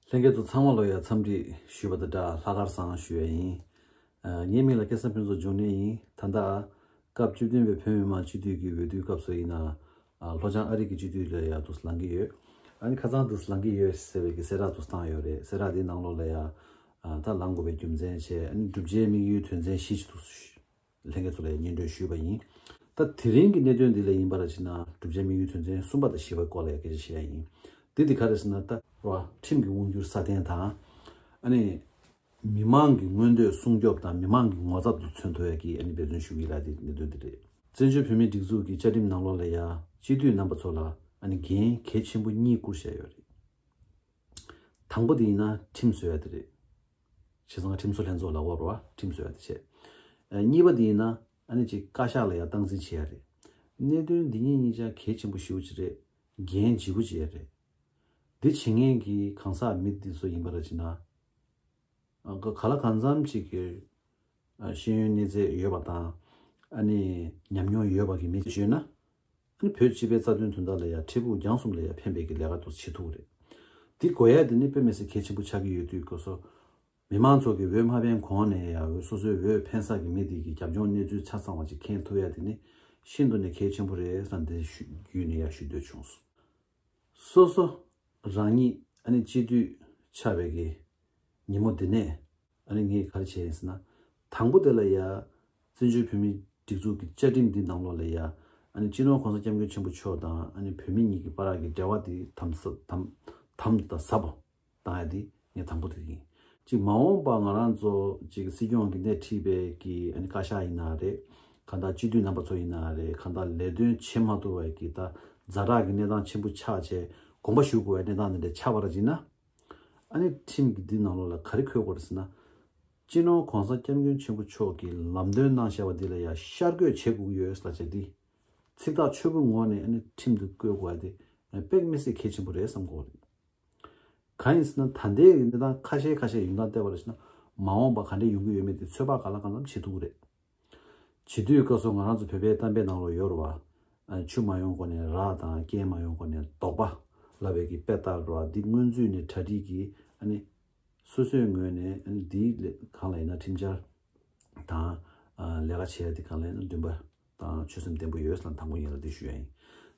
ལྷན་སྐྱེས་ཚོ་ཚང་མ་ལོ་ཡར་འཚམས་འདྲི་ཞུས་པ་དང་སྦྲགས་ལྷ་དཀར་བཟང་ཞུ་ཡ་ཡིན། ངའི་མིང་ལ་སྐལ་བཟང་ཕུན་ཚོགས་འབྱུང་གནས་ཡིན། ད་ལྟ། སྐབས་བཅུ་བདུན་པའི་བོད་མི་མང་སྤྱི་འཐུས་ཀྱི་འོས་བསྡུའི་སྐབས་སུ་ཡིན། ལྷོ་བྱང་ཨ་རིག་གི་སྤྱི་འཐུས་ལ་ཡང་དུ་ལང་གི་ཡོད། ཨ་ཁ་ཚང་དུ་ལང་གི་ཡོད་ཟེར་བའི་གི་གསལ་བསྒྲགས་དུ་བཏང་ཡོད་རེད་གསལ་བསྒྲགས་དེའི་ནང་ལོགས་ལ་ཡང་ད་ལང་དགོས་པའི་རྒྱུ་མཚན་བྱས་ནས་གྲུབ་ཆའི་དམིགས་ཡུལ་དོན་ཚན་བཞི་ཞིག་དུ། ལྷན་རྒྱས་ཚོ་ལས་སྙན་སྒྲོན་ཞུས་པ་ཡིན། ད་དེ་རིང་གི་གནད་དོན་འདི་ལས་ཡིན་པ་ལ་ཕྱིན་ན་གྲུབ་ཆའི་དམིགས་ཡུལ་དོན་ཚན་གསུམ་པ་དང་བཞི་པའི་སྐོར་ལས་སྐད་ཆ་བཤད་ཡ་ཡིན། དེ་དེ་ག་རེད་ཟེར་ན་ད། རོགས་ཨ། ཁྲིམས་ཀྱི་དབང་སྒྱུར་སྲ་བརྟན་དང། ཨ་ནི། མི་མང་གི་མངོན་འདོད་སྲུང་སྐྱོབ་དང་མི་མང་གི་ངོ་ཚབ་དུ་མཚོན་ཐུབ་ཡ་གི་ཨ་ནི་འབད་བརྩོན་ཞུ་གི་ཡིན་ལ་དེ་གནད་དོན་འདི་རེད། བཙན་བྱོལ་བོད་མིའི་སྒྲིག་འཛུགས་ཀྱི་བཅའ་ཁྲིམས་ནང་ལོགས་ལས་ཡ། སྤྱི་འཐུས་རྣམ་པ་ཚོ་ལ་ཨ་ནི་འགན་གལ་ཆེན་པོ་གཉིས་བསྐུར་བཞག་ཡོད་རེད། དང་པོ་དེ་ཡིན་ན་ཁྲིམས་བཟོ་ཡ་དེ་རེད། བྱས་ཙང་ཁྲིམས་བཟོ་ལྷན་ཚོགས་ལ་དབར་བར་ཁྲིམས་བཟོ་ཡག་དེ་བྱས། གཉིས་པ་དེ་ཡིན་ན་ཨ་ནེ་གཅིག་བཀའ་ཤག་ལ་ཡང་སྟངས་འཛིན་བྱེད་ཡག་རེད། གནད་དོན་འདི་གཉིས་གཉིས་ཅག་གལ་ཆེན་པོ་ཞིའུ་ཅི་རེད། འགན་ལྗིད་པོ་བྱེད་ཡག་རེད། འདི་བྱེད་མཁན་གྱི་གང་ཟག་མི་འདི་ཚོ་ཡིན་པ་ར་ཅི་ན། ག་ལ་གང་འཚམ་ཅིག་གི་ཤེས་ཡོན་གནས་ཚད་ཡོད་པ་དང་ཨ་ནེ་ཉམས་མྱོང་ཡོད་པ་གི་མི་བྱོས་ན་ནི་བོད་སྤྱི་པའི་རྩ་དོན་དོན་དག་ལ་ཡང་འཕྲལ་ཕུགས་རྒྱང་གསུམ་ལ་ཡང་ཕན་པའི་གི་ལས་ཀ་ཏུ་བྱེད་ཐུག་རེད། འདི་དགོས་ཡ་དེ་ནི་དཔེ་མི་སྲིད་གལ་ཆེན་པོ་ཆགས་ཀྱི་ཡོད་དུས་ཀོ་སོ། མི་མང་ཚོགས་ཀྱི་འོས་མ་ཕན་གོང་ནས་ཡང་འོས་སོ་སོའི་འོས་ཕན་བསགས་ཀྱི་མི་དེ་གི་རྒྱབ་ལྗོངས་གནས་ཚུལ་ཆ་ཚང་བ་ཅིག་མཁྱེན་ཐུབ་ཡ་དེ་ནི་ཤིན་ཏུ་ནས་གལ་ཆེན་པོ་རེད་བསམ་ཏེ་བརྒྱུད་ནས་ཡང་ཞུ་འདོད་བྱུང། སོ་སོ་རང་ཉིད་ཨ་ནི་སྤྱི་འཐུས་ཆགས་པའི་གི་ཉིན་མོ་འདི་ནས། ཨ་ནི་ངས་ག་རེ་བྱས་ཡིན་ཟེར་ན། དང་པོ་དེ་ལ་ཡ། བཙན་བྱོལ་བོད་མིའི་སྒྲིག་འཛུགས་ཀྱི་བཅའ་ཁྲིམས་འདི་ནང་ལོགས་ལ་ཡ། ཨ་ནི་སྤྱི་ནོར་གོང་ས་སྐྱབས་མགོན་ཆེན་པོ་མཆོག་དང་ཨ་ནི་བོད་མི་གཉིས་ཀྱི་པ་རག་གི་འབྲེལ་བ་དེ་དམ། དམ་དང་ཟབ་པོ། དང་ཡ་དེ་ངས་དང་པོ་དེ་ཡིན། གཅིག་མ་འོངས་པ་ང་རང་ཚོ་གཅིག་སྲིད་སྐྱོང་གི་སྣེ་ཁྲིད་པའི་གི་ཨ་ནི་བཀའ་ཤག་ཡིན་ན་རེད། གང་དག་སྤྱི་འཐུས་རྣམ་པ་ཚོ་ཡིན་ན་རེད་གང་དག་ལས་དོན་བྱེད་མ་ཐུབ་པ་གི་ད་རྫ་དྲག་གི་གནས་སྟངས་ཆེན་པོ་ཆགས་བྱས་དགོངས་པ་ཞུ་དགོས་པའི་གནས་སྟངས་འདི་འདྲ་ཆགས་པ་ར་གཅིག་ན། ཨ་ནེ་ཁྲིམས་ཀྱི་འདི་ནང་ལོགས་ལ་ག་རེ་འཁོད་དགོས་རེད་ཟེར་ན། སྤྱི་ནོར ྋགོང་ས ྋསྐྱབས་མགོན་ཆེན་པོ་མཆོག་གིས་ལམ་སྟོན་གནང་བཞག་པ་འདི་ལ་ཡང་ཤར་བཀོད་བྱེད་དགོས་ཀྱི་ཡོད་ཨེ་ཟེར་ལ་ཇག་སྡིག། ཚིག་ཐག་ཆོད་པོའི་ངོགས་ནས་ཨ་ནེ་ཁྲིམས་འདི་བཀོད་དགོས་པ་དེ་དཔེ་མི་སྲིད་གལ་ཆེན་པོ་རེད་བསམ་དགོས་པ་རེད། གང་ཡིན་ཟེར་ན་ད་ལྟའི་གནས་སྟངས་ཁ་ཤས་ཁ་ཤས་ཡོང་སྟངས་བལྟས་པ་ལ་ཞུ་ན་མ་འོངས་པ་ག་འདྲ་ཡོང་གི་ཡོད་མེད་དེ་ཚོད་དཔག་ག་ལ་ག་ལམ་བྱེད་ཐུབ་ཀྱི་རེད། བྱིས་དུས་སྐབས་སུ་ང་རང་ཚོ་བོད་པའི་གཏམ་དཔེ་ནང་ལོ་ཡོར་བ། ཆུ་མ་ཡོང་གོང་ནས་ར་དང་རྐྱལ་མ་ཡོང་གོང་ནས་རྡོག་པ། ལ་བས་ཀྱི་དཔེ་ལྟར་རོ་འདི་སྔོན་ཚུད་ནས་གྲ་སྒྲིག་གིས་ཨ་ནི། སོ་སོའི་ངོས་ནས་ཨ་ནི་འདི་ལས་གང་ལ་ཡིན་ན་ཁྲིམས་འཆར། དང། ལས་ཀ་བྱས་འདི་གང་ལ་ཡིན་ན་འདུན་པ། དང་ཆོད་སེམས་བརྟན་པོ་ཡོད་ས་ལ་དང་པོ་ཡིན་ལ་འདི་ཞུ་ཡ་ཡིན།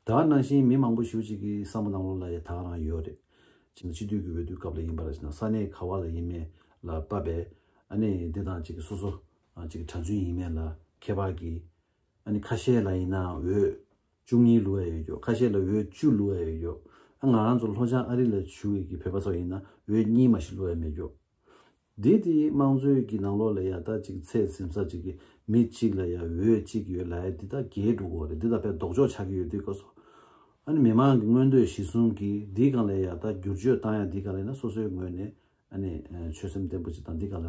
ད་བར་ནང་བཞིན་མི་མང་པོ་ཞིག་ཅིག་གི་བསམ་བློ་ནང་ལོ་ལ་ཡ་ཐག་རང་ཡོད་རེད། ཅིག་ན་སྤྱི་འཐུས་ཀྱི་འོས་བསྡུ་སྐབས་ལ་ཡིན་པ་ལ་ཅིག་ན་ས་གནས་ག་བ་ལ་ཡིན་མེད་ལ་བབས་པས། ཨ་ནི་འདི་དང་ཅིག་གིས་སོ་སོ་གཅིག་གྲྭ་བཙུན་ཡིན་མེད་ལ་ཁྱད་པར་གྱི། ཨ་ནི་ཁ་ཤས་ལ་ཡིན་ན་འོད། བཅུ་གཉིས་ལུས་ཡ་ཡོད་རྒྱུ་ཁ་ཤས་ལ་འོད་བཅུ་ལུས་ཡ་ཡོད་རྒྱུ། ཨ་ང་རང་ཚོ་ལྷོ་བྱང་ཨ་རི་ལ་བྱུས་ཡོད་ཀྱི་བོད་པ་སོགས་ཡིན་ན་འོད་གཉིས་མ་ཞིག་ལུས་ཡ་མེད་རྒྱུ། དེ་དེ་དམངས་གཙོའི་གྱི་ནང་ལོགས་ལ་ཡ་ད་ཅིག་ཚད་ཟིན་ས་ཅིག་གི་མི་གཅིག་ལ་ཡ་འོད་གཅིག་ཡོད་ལ་ཡ་འདི་ད་རྒྱའི་འགྲོ་གོ་རེད་འདི་ད་པའི་ལྡོག་ཕྱོགས་ཆགས་ཀྱི་ཡོད་དུས་ཀ་སོ། ཨ་ནི་མི་མང་གི་མངོན་འདོད་གཞི་གཟུང་གི་འདི་གང་ལ་ཡ་ད་བསྒྱུར་བཅོས་བཏང་ཡ་འདི་ག་ལ་ཡིན་ན་སོ་སོའི་ངོས་ནས་ཨ་ནི་ཆོད་སེམས་བརྟན་པོ་ཅིག་དང་འདི་ག་ལ།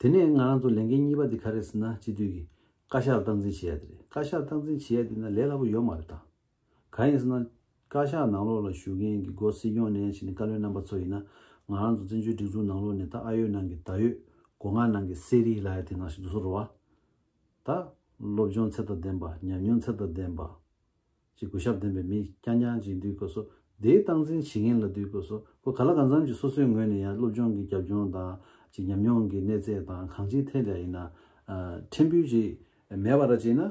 དེ་ནས་ང་རང་ཚོ་ལས་འགན་གཉིས་པ་འདི་ག་རེད་ཟེར་ན་སྤྱི་འཐུས་ཀྱི་བཀའ་ཤག་ལ་སྟངས་འཛིན་བྱེད་ཡ་དེ་རེད་བཀའ་ཤག་སྟངས་འཛིན་བྱེད་ཡ་དེ་ན་ལས་སླ་པོ་ཡོད་མ་རེད་ད། གང་ཡིན་ཟེར་ན། བཀའ་ཤག་ནང་ལོགས་ལ་བཞུགས་མཁན་གྱི་སྒོ་སྲིད་སྐྱོང་ནས་བྱེད་ནི་བཀའ་བློན་རྣམ་པ་ཚོ་ཡིན་ན་ང་རང་ཚོ་བཙན་བྱོལ་སྒྲིག་འཛུགས་ནང་ལོགས་ནས་ད་ཨ་ཡོད་ནང་གི་ད་ཡོད་སྒོ་ང་ནང་གི་གསེར་རིའི་ལ་ཡ་དེ་ནང་བཞུགས་སུ་རུ་བ། ད། སློབ་སྦྱོང་ཚད་དང་ལྡན་པ་ཉམས་མྱོང་ཚད་དང་ལྡན་པ། ཅེས་གུས་ཞབས་ལྡན་པའི་མིས་རྐྱང་རྐྱང་ཅིག་འདུས་དགོས་སོ། དེའི་སྟངས་འཛིན་བྱེད་མཁན་ལ་འདུས་དགོས་སོ། གོ་ག་ལ་གང་འཚམ་གྱིས་སོ་སོའི་ངོས་ནས་ཡང་སློབ་སྦྱོང་གི་རྒྱབ་ལྗོངས་དང། ཅིག་ཉམས་མྱོང་གི་གནས་ཚད་དང་གང་ཅིའི་ཐད་ལ་ཡིན་ན། ཕྲན་བུ་ཅིག་མེད་པར་ཅིག་ན།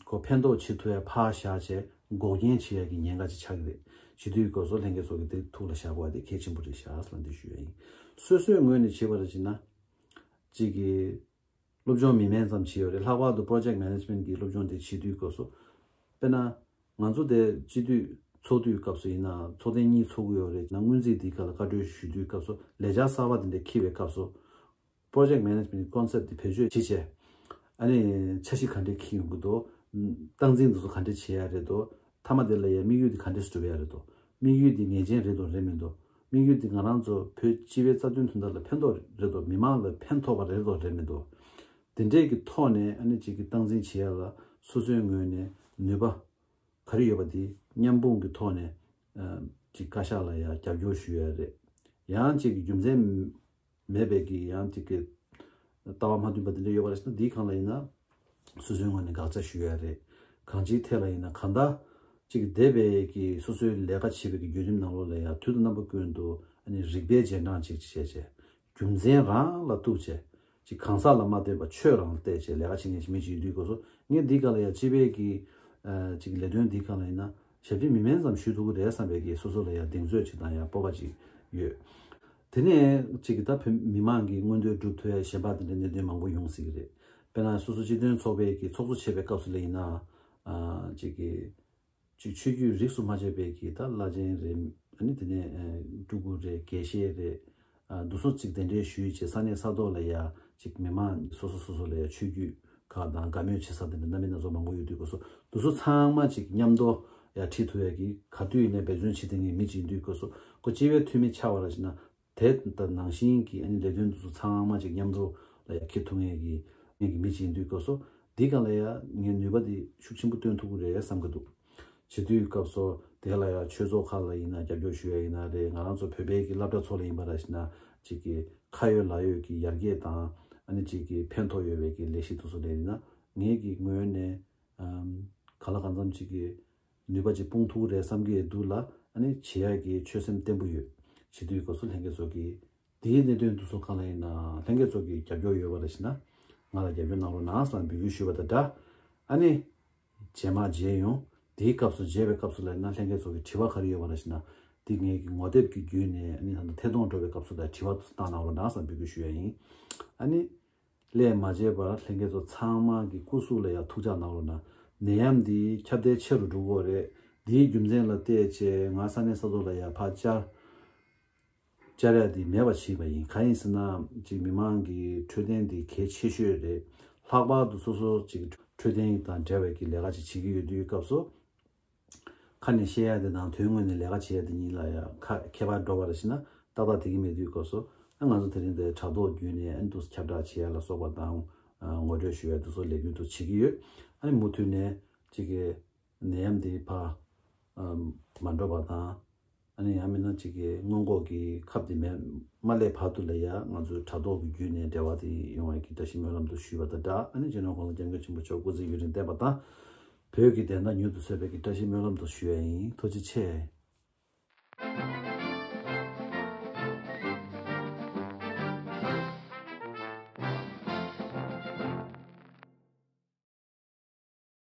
གོ་ཕན་ཐོགས་ཆེད་ཐུ་བའི་ཕག་བཞག་ཆེད་འགོག་རྐྱེན་བྱེད་ཡ་གི་ཉེན་ཁ་ཅིག་ཆགས་ཀྱི་རེད། ཅིག་འདུས་དགོས་སོ་ལྷན་རྒྱས་ཚོགས་ཀྱི་འདིར་ཐུགས་ལ་བཞག་དགོས་བ་དེ་གལ་ཆེན་པོ་རེད་བཞག་ལ་འདི་ཞུ་ཡ་ཡིན། སོ་སོའི་ངོས་ནས་བྱེད་པར་ཅིག་ན། ཅིག་གིས། སློབ་སྦྱོང་མི་དམན་ཙམ་བྱས་ཡོད་རེད་ལྷག་པར་དུ Project Management གྱི་སློབ་སྦྱོང་དེ་བྱེད་དུས་སྐབས་སུ། དཔེར་ན། ང་ཚོ་དེ་སྤྱི་འཐུས་ཚོགས་དུས་སྐབས་སུ་ཡིན་ནའང་ཚོགས་ཐེངས་གཉིས་ཚོགས་ཀྱི་ཡོད་རེད་ཅེ་ན་སྔོན་རྩིས་འདིའི་ཁ་ལ་བཀའ་འཁྲོལ་ཞུ་དུས་སྐབས་སུ་ལས་འཆར་གསར་པ་དེ་འདྲ་འཁྱེར་བའི་སྐབས་སུ། Project Management གྱི Concept དེ་བེད་སྤྱོད་ཇི་བྱས། ཨ་ནི་འཆར་གཞི་ག་འདྲས་འཁྱེར་ཡོང་གི་འདུག་སྟངས་འཛིན་འདི་ཚོ་ག་འདྲས་བྱས་ཡག་རེད་འདུག་མཐའ་མ་དེ་ལ་ཡང་དམིགས་ཡུལ་དེ་ག་འདྲས་སྒྲུབ་ཡག་རེད་འདུག་དམིགས་ཡུལ་དེ་ངེས་ཅན་རེད་དང་རེད་མི་འདུག་དམིགས་ཡུལ་འདི་ང་རང་ཚོ་བོད་སྤྱི་བའི་རྩ་དོན་དོན་དག་ལ་ཕན་ཐོགས་རེད་དོ་མི་མང་ལ་ཕན་ཐོགས་པ་རེད་དོ་རེད་མི་འདུག་འདི་འདྲས་ཀྱི་ཐོག་ནས་ཨ་ནེ་ཅིག་གི་སྟངས་འཛིན་བྱེད་ཡག་ལ་སོ་སོའི་ངོས་ནས་ནུས་པ་ག་རེ་ཡོད་པ་དེ་མཉམ་སྤུངས་ཀྱི་ཐོག་ནས་ཅིག་བཀའ་ཤག་ལ་ཡང་རྒྱབ་སྐྱོར་ཞུ་ཡག་རེད་ཡང་ཅིག་རྒྱུ་མཚན། མེད་པའི་གི་ཡང་ཅིག་གི། ལྟ་བ་མ་མཐུན་པ་འདི་འདྲ་ཡོད་པ་རེད་ཟེར་ན་འདིའི་གང་ལ་ཡིན་ན། སོ་སོའི་ངོས་ནས་དགག་བྱ་ཞུ་ཡ་རེད། གང་ཅིའི་ཐད་ལ་ཡིན་ན་ག་ད། ཅིག་གི་འདས་པའི་གི་སོ་སོའི་ལས་ཀ་བྱེད་པའི་གི་བརྒྱུད་རིམ་ནང་ལོགས་ལ་ཡང་དུས་དང་རྣམ་པ་ཀུན་ཏུ་ཨ་ནི་རིག་པའི་རྗེས་འབྲང་ཅིག་ཅིག་བྱས་བྱས། རྒྱུ་མཚན་རང་ལ་གཏུགས་བྱས། ཅིག་གང་ཟག་ལ་མ་ལྟོས་པར་ཆོས་རང་ལ་བལྟས་བྱས་ལས་ཀ་བྱེད་མཁན་ཞིག་མི་ཅིག་ཡིན་དུས་དགོས་སོ་ངས་འདིའི་ག་ལ་ཡང་སྤྱི་པའི་གི། ཅིག་གི་ལས་དོན་འདིའི་གང་ལ་ཡིན་ན། ཞབས་ཕྱི་མི་དམན་ཙམ་ཞུས་ཐུབ་ཀི་རེད་བསམ་པའི་གི་སོ་སོ་ལ་ཡང་གདེང་ཚོད་ཅིག་དང་ཡང་སྤོབས་པ་ཅིག་ཡོད། དེ་ནས་ཅིག་གིས་ད་བོད་མི་མང་གི་མངོན་འདོད་སྒྲུབ་ཐོའི་ཞལ་འབག་དེ་འདྲའི་གནད་དོན་མང་པོ་ཡོང་སྲིད་ཀྱི་རེད། དཔེར་ན་སོ་སོ་སྤྱི་དོན་ཚོགས་པའི་གི་ཚོགས་གཙོ་བྱས་པའི་སྐབས་སུ་ལས་ཡིན་ནའང། ཅིག་གི། ཅིག་ཆོས་བརྒྱུད་རིགས་སུ་མ་བཅད་པའི་གི་ད་བླ་ཆེན་རེད། ནི་དེ་ནས་སྤྲུལ་སྐུ་རེད་དགེ་བཤེས་རེད། འདུག་སོ་ཅིག་དེ་འདྲའི་ཞུས་ཅིག་ས་གནས་ས་ཐོག་ལ་ཡང་ཅིག་མི་མང་སོ་སོ་སོ་སོ་ལ་ཡང་ཆོས་བརྒྱུད་གང་དང་དགའ་མོས་བྱེད་ས་དེ་ནས་གནའ་མི་སྣ་ཚོགས་མང་པོ་ཡོད་དུས་དགོས་སོ་དུས་སོ་ཚང་མ་ཅིག་མཉམ་དུ་ཡ་ཁྲིད་ཐུབ་ཡ་གི་ག་དུས་ནས་འབད་བརྩོན་བྱེད་དེ་ངས་མི་བྱིན་དུས་དགོས་སོ་གོ་སྤྱི་བའི་འཐུས་མི་ཆགས་པ་ར་བྱེད་ན་དེ་ད་ནང་བཞིན་གི་ཨ་ནི་ལས་དོན་དུས་སོ་ཚང་མ་ཅིག་མཉམ་དུ་ལ་ཡ་ཁེ་ཐུབ་ངས་གི་ངས་གི་མི་བྱིན་དུས་དགོས་སོ་འདི་ག་ལ་ཡ་ངས་ནུས་པ་དེ་ཤུགས་ཆེན་པོ་བཏོན་ཐུབ་གི་རེད་བསམ་གི་འདུག། བྱེད་དུས་སྐབས་སོ། དེ་ལ་ཡང་ཆོས་ཚོགས་ཁག་ལ་ཡིན་ན་རྒྱབ་སྐྱོར་ཞུ་ཡ་ཡིན་ན་རེད་ང་རང་ཚོ་བོད་པའི་གི་བླ་བྲ་ཚོགས་ལ་ཡིན་པ་ར་ཤི་ན་གཅིག་གི་ཁ་ཡོད་ལག་ཡོད་གི་ཡར་རྒྱས་དང་ཨ་ནི་གཅིག་གི་ཕན་ཐོག་ཡོད་བའི་གི་ལས་ཤིག་ཏུ་སོ་ལས་ཡིན་ན་ངས་གི་ངོས་ནས་ག་ལ་གང་འཚམ་གཅིག་གི་ནུས་པ་གཅིག་སྤུངས་ཐུག་རེད་བསམ་གི་འདུག་ལ་ཨ་ནི་བྱེད་ཡ་གི་ཆོད་སེམས་བརྟན་པོ་ཡོད་བྱེད་དུས་སྐབས་སོ་ལྷན་རྒྱས་ཚོགས་གི་དེའི་གནད་དོན་དུ་སོ་གང་ལ་ཡིན་ན་ལྷན་རྒྱས་ཚོགས་གི་རྒྱབ་སྐྱོར་ཡོད་བ་ར་ཤི་ན་ང་ལ་རྒྱབ་སྐྱོར་གནང་རོགས་གནང་བསམ་འབོད་ཡུལ་ཞུ་བ་དང་འདྲ་ཨ་ནི་རྗེས་མ་བརྗེད་ཡོང། དེའི་སྐབས་སུ་བརྗེད་པའི་སྐབས་སུ་ལས་སྣ་ལྷན་སྐྱེས་ཚོགས་ཀྱི་དྲི་བ་ག་རེ་ཡོད་པ་རེ་ཞིག་ན། དེ་ངེད་ཀྱི་ངོ་དེབ་ཀྱི་བརྒྱུད་ནས་ཨ་ནི་ད་ལྟ་ཐད་གཏོང་འགྲོ་བའི་སྐབས་སུ་དེ་དྲི་བ་བཏང་གནང་རོགས་གནང་བསམ་འབུལ་སྐུལ་ཞུ་ཡ་ཡིན། ཨ་ནི། ལས་མ་བརྗེད་པར་ལྷན་སྐྱེས་ཚོགས་ཚང་མ་གི་སྐུ་གཟུགས་ལ་ཡང་ཐུགས་འཇགས་གནང་རོགས་གནང། ནད་ཡམས་འདི་ཁྱབ་གདལ་ཆེ་རུ་འགྲོ་གོ་རེད། འདིའི་རྒྱུ་མཚན་ལ་བལྟས་རྗེས་ང་ས་གནས་ས་ཐོག་ལ་ཡར་འཕར་བཅར། བཅའ་རས་འདི་མེད་པ་བྱས་པ་ཡིན་གང་ཡིན་ཟེར་ན་གཅིག་མི་མང་གི་འཕྲོད་བསྟེན་འདི་གལ་ཆེ་ཤོས་རེད་ལྷག་པར་དུ་སོ་སོ་གཅིག་འཕྲོད་བསྟེན་དང་འབྲེལ་བའི་གི་ལས་ཀ་ཅིག་བྱེད་ཀྱི་ཡོད་དུས་སྐབས་སུ་ཁ་ནས་བཤད་ཡ་དེ་དང་དོན་དངོས་ནས་ལས་ཀ་བྱེད་ཡ་དེ་གཉིས་ལ་ཡ་ཁ་ཁྱད་པར་འགྲོ་བ་རེ་ཤི་ན་ཏག་ཏག་དེ་གི་མེད་དུས་སྐབས་སུ་ཨ་ང་ཚོ་དེ་རིང་འདིར་དྲ་ཐོག་བརྒྱུད་ནས་ཨ་འདུག་ཁྱབ་བསྒྲགས་བྱེད་ཡ་ལ་སོགས་པ་དང་ངོ་སྤྲོད་ཞུ་ཡ་འདུག་སོགས་ལས་རྒྱུན་དུ་བྱེད་ཀྱི་ཡོད་ཨ་ནི་མུ་མཐུད་ནས་གཅིག་གི་ནད་ཡམས་དེའི་བར་མ་འགྲོ་བ་དང། ཡང་མིན་ན་གཅིག་གི་སྔོན་འགོག་གི་ཁབ་དེ་མེད་མ་སླད་བར་དུ་ལ་ཡང་ང་ཚོས་དྲ་ཐོག་གི་བརྒྱུད་ནས་འབྲེལ་བ་དེ་ཡོང་བའི་བཀྲ་ཤིས་སྨོན་ལམ་དུ་ཞུས་པ་དང་སྦྲགས་རྗེས་གནང་གོང་ས་སྐྱབས་མགོན་ཆེན་པོ་མཆོག་སྐུ་ཚེ་ཡུན་རིང་བརྟན་པ་དང། བོད་ཀྱི་བདེན་མཐའ་མྱུར་དུ་སོས་པའི་བཀྲ་ཤིས་སྨོན་ལམ་དུ་ཞུ་ཡ་ཡིན་ཐུགས་རྗེ་ཆེ།